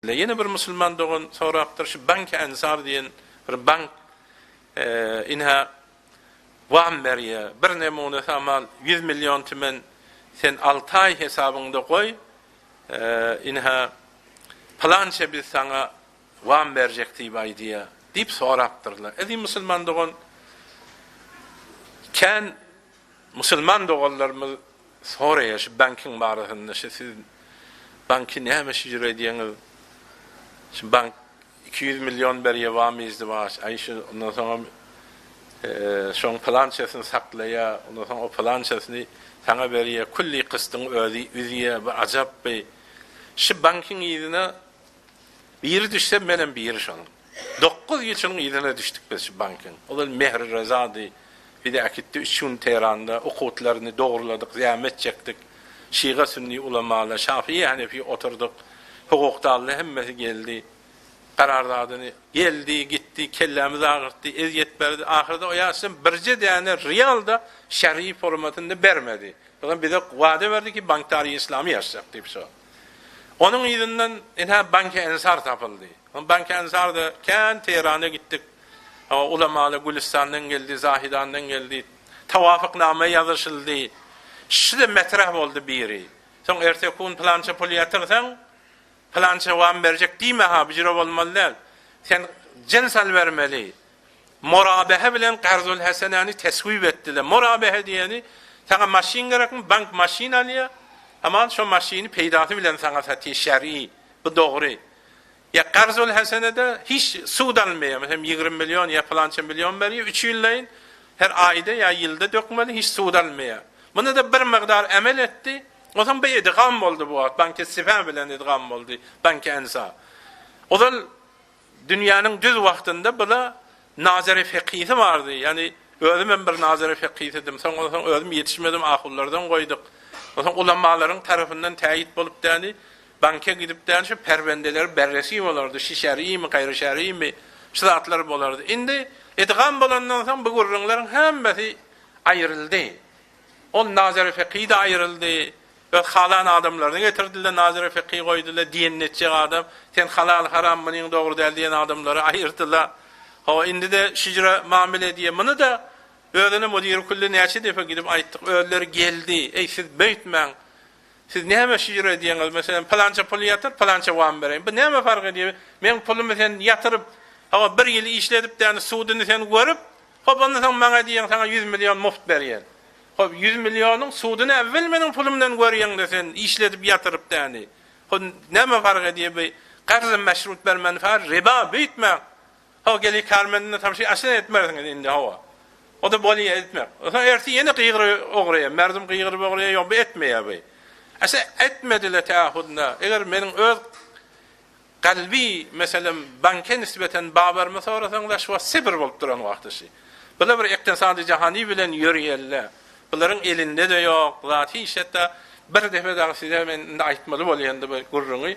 Ine ýene bir musulman dogan sorapdyr şu Banki Ansar diýen bir bank ynha wam berýä bir nemune samal ýüz million tümen sen alty aý hesabyňda goý ynha pylança biz saňa wam berjek diýip aýdýa diýip sorapdyrlar eziz musulman dogan kän Musulman doganlarymyz soraýar şu bankyň barasynda şu siz banky näme şüjür edýäňiz şu bank iki ýüz million berýär wamy izdiwaç aý şu ondan soňam şoň pylançasyny saklaýa ondan soň o pylançasyny saňa berýä külli kystyň özi üzýä bu ajapby şu bankyň yzyna biri düşse menem biri şonuň. Dokuz ýyl şunuň yzyna düşdük biz şu bankyň. Ozal Mehri Rezady, bize äkitdi, üç gün Tehranda okuwtlaryny dogruladyk, zähmet çekdik. Şyga sünni ulamalar, şafyýy henefi oturdyk. Hukukdallar hemmesi geldi. Gararzadyny geldi, gitdi, kellämizi agyrtdy, ezýet berdi. Ahyrda o ýaşdan birje däne rial-da şerhi formatynda bermedi. Soň bize wada berdi ki, bank-tary-yslamy ýazjak diýip şo. Onuň yzyndan ine Banki Ensar tapyldy. Ondan kän uzakda, kän Tehrana gitdik. Ulamalar Gülüstandan geldi, Zahidandan geldi. Tawafyknama ýazyşyldy. Şile metrah boldy biri. Soň erteki gün pylança pul ýatyrsaň, pylança wam berjek diýme-ha, bu jire bolmaly däl. Sen jen sal bermeli. Morabehe bilen Garzulhesenäni teswip etdiler. Morabehe diýeni, Saňa maşyn gerekmi? Bank maşyn alýar. Hamala şo maşyny peýdasy bilen saňa satýar, şer'i. Bu dogry. Ýa karzul hasenede hiç sud almaýar. Meselem ýigrimi million ýa pylança million berýär üç ýyllayyn her aýda ýa ýylda dökmeli hiç sud almaýar. Munda-da bir mygdar amel etdi. Onsoň bu idgam boldy bu wagt banki sife bilen idgam boldy banki ensa. Ozal dünýäniň düz wagtynda bula nazary fekisi bardy. Ýani özüm hem bir nazary fekisidim. Soň onsoň özüm ýetişmedim ahullardan goýduk. Onsoň ulamalaryň tarapyndan täýit bolup däni Banka gidip däl şu perwendeleri berresi bolardy, şişerimi, gaýry şerimi, şu zatlar bolardy. Indi idgam bolandan soň bu gürrüňleriň hemmesi aýryldy. Ol Nazary Feqi-de aýryldy. Öz halan adamlaryny getirdiler, Nazary Feqi goýdular, diýen netjek adam. Sen halal, haram, munyň dogry däl diýen adamlary aýyrdylar. Hawa, indi-de şüjre mamile edýär. Muny-da özüne müdiri külli näçe depe gidip aýtdyk. Özleri geldi, Eý, siz beýtmäň. Siz näme şyr edýäňiz? Meselem, pylança puly ýatyr, pylança wam bereýin. Bu näme fark edýär? Meň pulumy sen ýatyryp, hawa, bir ýyl işledipdäni, suduny sen görüp, hop, ondan soň maňa diýýäň, saňa ýüz million mugt berýän. Hop, ýüz millionyň suduny äwwel meniň pulumdan görýäň-de sen, işledip ýatyrypdäni. Hop, näme fark edýär bu? Karz-y meşrut bermän, fa, riba, bu ýitmä. Hawa geliň Kärmendine tabşyr aşyn etmersiňiz indi hawa. O-da bolýa etmek. Soň ertir ýene gygyry ogurýa. Merdum gygyryp ogurýa, ýok bu etmeýä bu. Aşa etmedi-le tä hudna. Eger meniň öz kalby meselem banke nisbeten babarymy sorasaň daş wagt Sibir bolup duran wagty şi. Bu-la bir ektisady jahany bilen ýörýä-le. Bularyň elinde-de ýok zat hiç hatda bir depe dagy size men indi aýtmaly bolýa indi bu gürrüňi.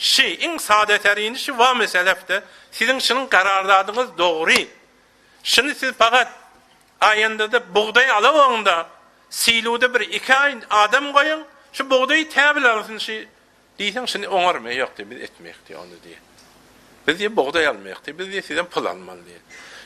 Şy, iň sada tärini şy wa meselefde siziň şynyň garardadyňyz dogry. Şyny siz pagat aýandada bugdaý alaoňda siluda bir iki aý adam goýuň, şy bugdaýy täbil alsyn şy diýseň şyny oňar me ýok diý biz etmeýik diý ony diý. Biz diý bugdaý almaýok diý biz diý sizden pul almaly diý.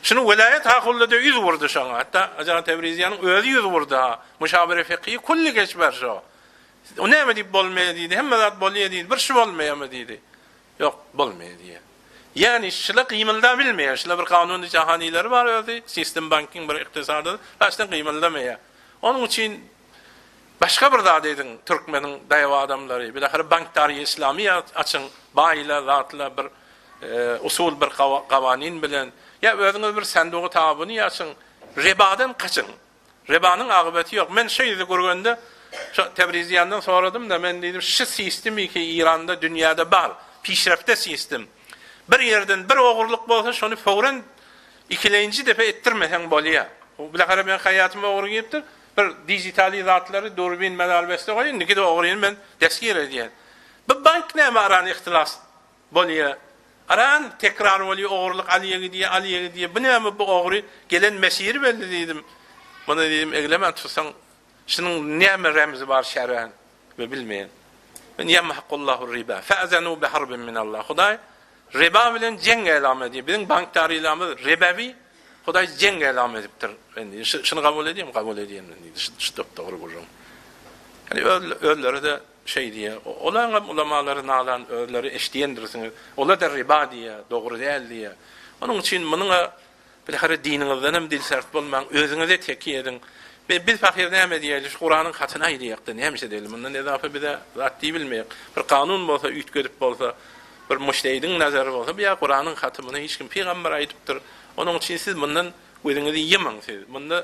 Şyny welaýat hakulda diý ýüz wurdy şoňa hatda Ajan Tebriziýanyň özi ýüz wurdy ha muşawere fekiýi kulli geç ber şo. O näme diýip bolmaýar diýdi. Hemme zat bolýar diýdi. Bir şu bolmaýarmy diýdi. Ýok, bolmaýar diýýär. Ýagny şular gymyldabilmeýär. Şular bir kanun jahanyýleri bar özi, sistem banking bir ykdysady daşdan gymyldamaýar. Onuň üçin başga bir zat ediň, türkmeniň daýaw adamlary, bilahyra bankdary islamy açyň, baýlar, zatlar bir usul bir gawanin bilen. Ýa özüňiz bir sandugy tabyny açyň, ribadan gaçyň. Rebanyň akybeti ýok. Men şo ýüzi gürgende şo Tebriziýandan soradym-da, men diýdim, şi sistim iki Iranda, dünýäde bar, pişrefte sistim. Bir ýerden bir ogurlyk bolsa, şony fowren ikilenji depe etdirmeseň bolýa. Bu bilehere meň haýatyma ogry giripdir, bir dizitali zatlary, durbin, medal beste goýun, indiki-de ogryny men desgir edýän. Bu bank näme arany ihtilas Bolýa. Aran tekrar bolýa ogurlyk alýa gidýa alýa gidýa bu näme bu ogry gelen mesiri belli diýdim. Muny diýdim eglemän tutsaň şunuň näme remzi bar şären we bilmeýän. Men ýemhaqullahu riba fa'zanu bi harbin min Allah Hudaý riba bilen jeň elam edýär. Biziň bank tarylamyz ribawi Hudaý jeň elam edipdir. Men şuny gabul edýän gabul edýän men diýdi. Şu dogry gürrüň. Ýani özleri de Şeý diýýär, Olaňam ulamalary nalan özleri eşdiýendirsiňiz. Ola-da riba diýýär, dogry däl diýýär. Onuň üçin munyň-a bir hary diniňizdenem dilsert bolmaň, özüňize tekiý ediň. Be, biz pahyr näme diýäýeli, şu Kuranyň hatyny aýdaýak-da, näme edeli, mundan ezafa biz-ä zat diýbilmeýek. Bir kanun bolsa, üýtgedip bolsa, bir mujtehidiň nazary bolsa, bu ýa Kuranyň haty, muny hiç kim pygambar aýdypdyr. Onuň üçin siz mundan gözüňizi ýymyň, siz munda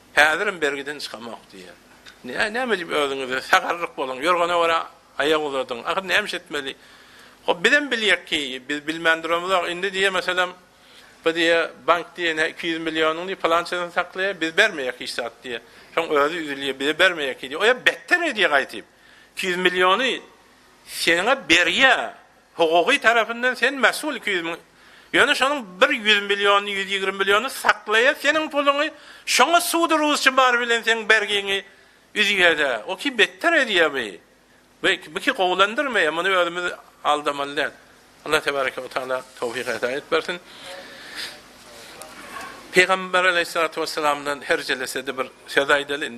Häzirem bergiden çykamok diýýär. Nä, näme edip özüňize sagarryk boluň, ýorgana görä aýak uzadyň. Ahyr näme iş etmeli? Hop, bizem bilýek ki, biz bilmän duramyzok. Indi diýe, meselem, bu diýe, bank diýe, nä iki ýüz millionyň diýe, pylançasyny saklaýa, biz bermeýek hiç zat diýe. Şoň özi üzülýä, bize bermeýek ki diýe. O ýa betder edýä gaýtyp. Iki ýüz milliony seniňä berýä. Hukuky tarapyndan sen mesul iki ýüz müň Ýöne şonuň bir ýüz milliony ýüz ýigrimi milliony saklaýa seniň puluňy şoňa sudy rusça bar bilen seň bergiňi üzýädä o ki betder edýä bi bi bi ki gowulandyrmaýa muny özümiz aldamaly däl Allah tebareke we taala towfik hedaýet bersin Peýgamber aleýhissalatu wessalamdan herjelesede bir söz aýdaly indi